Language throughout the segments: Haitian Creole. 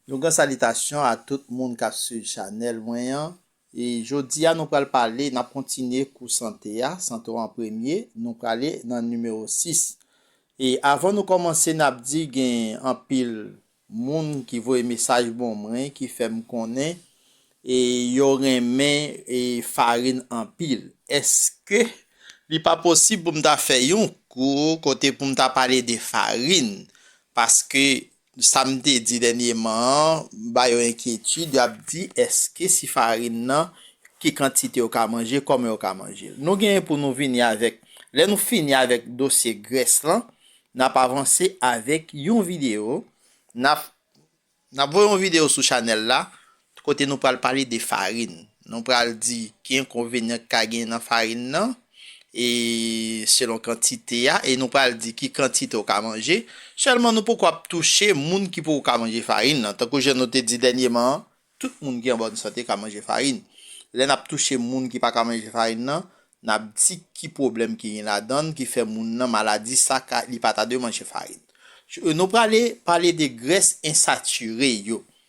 Yon gran salitasyon a tout moun kap swiv chanèl mwen an e jodi a nou pral pale nap kontinye kou sante a, sante w an premye, nou prale nan nimewo 6 e avan nou kòmanse nap di gen anpil moun ki voye mesaj bon mwen ki fèm konnen e yo renmen e farin anpil èske li pa posib pou m ta fè yon kou kote pou m ta pale de farin paske Sa m te di dènyeman an ba yo enkyetid, yo ap di èske si farin nan ki kantite yo ka manje, kòman yo ka manje l. Nou genyen pou nou vini avèk, lè nou fini avèk dosye grès lan, n ap avanse avèk yon videyo, n ap voye yon videyo sou chanèl la, Kote nou pral pale de farin. Nou pral di ki enkonvenyan ki ka genyen nan farin nan e selon kantite a e nou pral di ki kantite ou ka manje. Sèlman nou poko ap touche moun ki poko ka manje farin nan. Tankou jan nou te di dènyeman an, tout moun ki an bòn sante ka manje farin. Lè n ap touche moun ki pa ka manje farin nan, n ap di ki pwoblèm ki gen ladan l ki fè moun nan maladi sa ka li pa ta dwe manje farin. Nou prale pale de grès ensatire yo.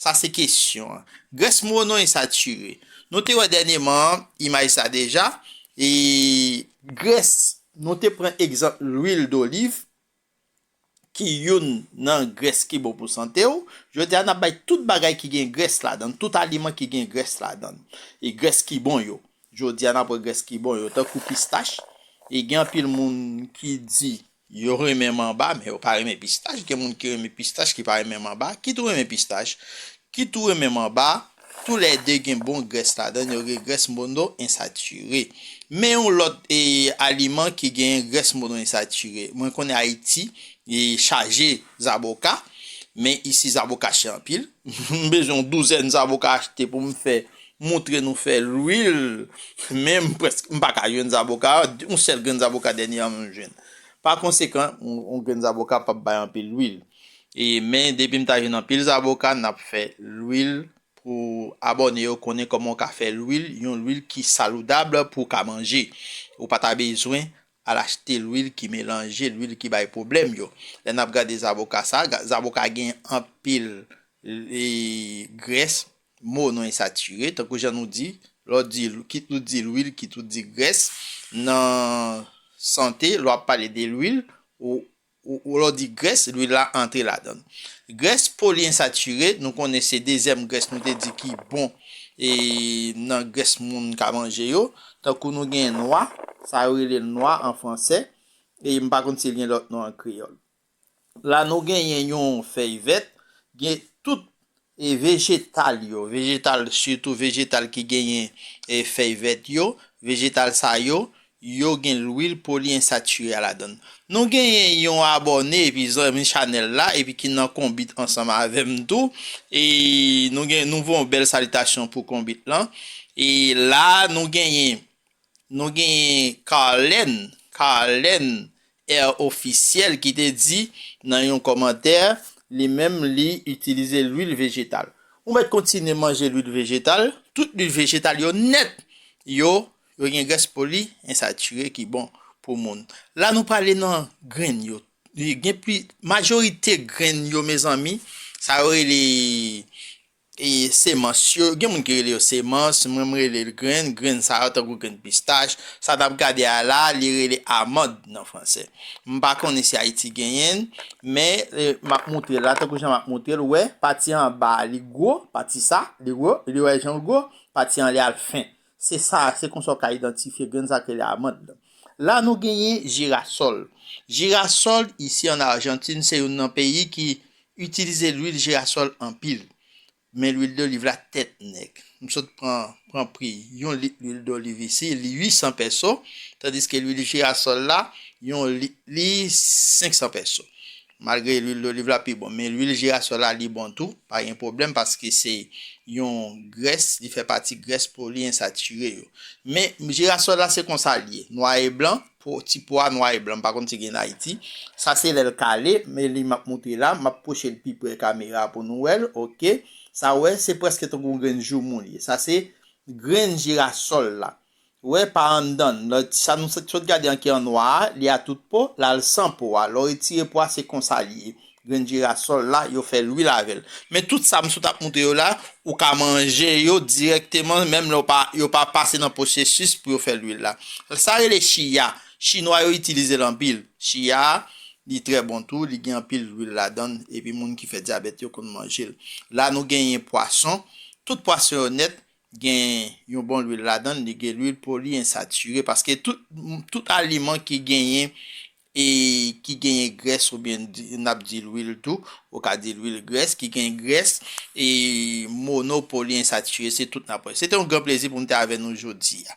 Sa se kesyon an. Grès monon e satire. Nou te wè dènyeman an imaj sa deja e. Grès, nou te pran egzanp lwil doliv ki youn nan grès ki bon pou sante w. Jodi a n ap bay tout bagay ki gen grès ladan, tout aliman ki gen grès ladan e grès ki bon yo. Jodi a n ap wè grès ki bon yo tankou pistach e gen anpil moun ki di Yo renmen manba, men yo pa renmen pistach. Gen moun ki renmen pistach ki pa renmen manba. Kit ou renmen pistach, kit ou renmen manba, tou lè 2 gen bon grès ladann yo, gen grès mono ensatire. Men yon lòt aliman ki genyen grès mono ensatire. Mwen konnen Ayiti chaje zaboka, men isi zaboka chè anpil. M bezwen yon douzèn zaboka achte pou m fè moutre nou fè lwil men m prèske m pa ka jwenn zaboka yon sèl grenn zaboka dènyèman m jwenn pa konsekan yon grenn zaboka pap bay anpil lwil e men depi m ta jwenn anpil zaboka n ap fè lwil pou abòne yo konnen kòman w ka fè lwil yon lwil ki saloudab pou w ka manje ou pa ta bezwen Al achte lwil ki melanje, lwil ki bay pwoblèm yo. Lè n ap gade zaboka sa, zaboka gen anpil grès, mo nou e satire, tankou jan nou di, lè w di, kit ou di lwil, kit ou di grès, nan sante, lè w ap pale de lwil, Ou lè w di grès, lwil la antre ladan l. Grès poliensatire, nou konnen se dezyèm grès nou te di ki bon nan grès moun ka manje yo. Tankou nou gen nwa, sa yo rele l nwa an fransè, e m pa konn si l gen lòt non an kreyòl. La nou genyen yon fèy vèt, gen tout E vejetal yo, vejetal sitou vejetal ki genyen fèy vèt yo, vejetal sa yo, yo gen lwil poliensatire a ladann. Nou genyen yon abòne epi zanmi chanèl la epi ki nan konbit ansanm avè m tou e nou gen nou voye yon bèl salitasyon pou konbit lan e la nou genyen Nou genyen Carlène, Carlène Air Officiel ki te di nan yon kòmantè, li menm li itilize lwil vejetal. Ou mèt kontinye manje lwil vejetal, tout lwil vejetal yo nèt, yo, yo gen grès poli ensatire ki bon pou moun. La nou prale nan grenn yo. Gen pli, majorite grenn yo mezanmi, sa yo rele Semans yo, gen moun ki rele yo semans, mwen m rele l grenn, grenn sa yo tankou grenn pistach, sa n ap gade a la a li rele amand nan franse. M pa konnen si Ayiti genyen l, men m ap moutre l la tankou jan m ap moutre l, wè pati anba a li gwo, pati sa, li gwo, li wè jan l gwo, pati anlè a l fen. Se sa, se konsa ou ka idantifye grenn sa k rele amand lan. La nou genyen jirasòl. Jirasòl isi an Arjantin se youn nan peyi ki itilize lwil jirasòl anpil. Men lwil doliv la tèt nèg. M sot pran pran pri yon lit lwil doliv isi li 800 pèso, tandiske lwil jirasòl la yon lit li 500 pèso. Malgre lwil doliv la pi bon, men lwil jirasòl la li bon tou, pa gen pwoblèm paske se yon grès, li fè pati grès poliensatire yo. Men jirasòl la se konsa li ye, nwa e blan, po ti po a nwa e blan, m pa konn si gen n Ayiti. Sa se lè l kale, men li m ap moutre la, m ap pwoche l pi pre kamera a pou nou wè l, ok. Sa ou wè, se prèske tankou grenn joumou li ye. Sa se grenn jirasòl la. Wè pa anndann, lè sa nou sot gade an ki an nwa a, li a tout po, la l san po a. Lè w retire po a se konsa li ye. Grenn jirasòl la, yo fè lwil avè l. Men tout sa m sot ap montre yo la, ou ka manje yo dirèkteman menm lè w pa, yo pa pase nan pwosesis pou yo fè lwil la. Sa rele chiya, chinwa yo itilize l anpil. Chiya a, li trè bon tou, li gen anpil lwil ladan l epi moun ki fè dyabèt yo konn manje l. La nou genyen pwason, tout pwason yo nèt, Gen yon bon lwil ladann li gen lwil poli ensature paske tout tout aliman ki genyen e ki genyen grès ou byen nap di lwil tou ou ka di lwil grès ki gen grès e mono poli ensature se tout nap wè se te yon gran plezi pou m te avè nou jodia.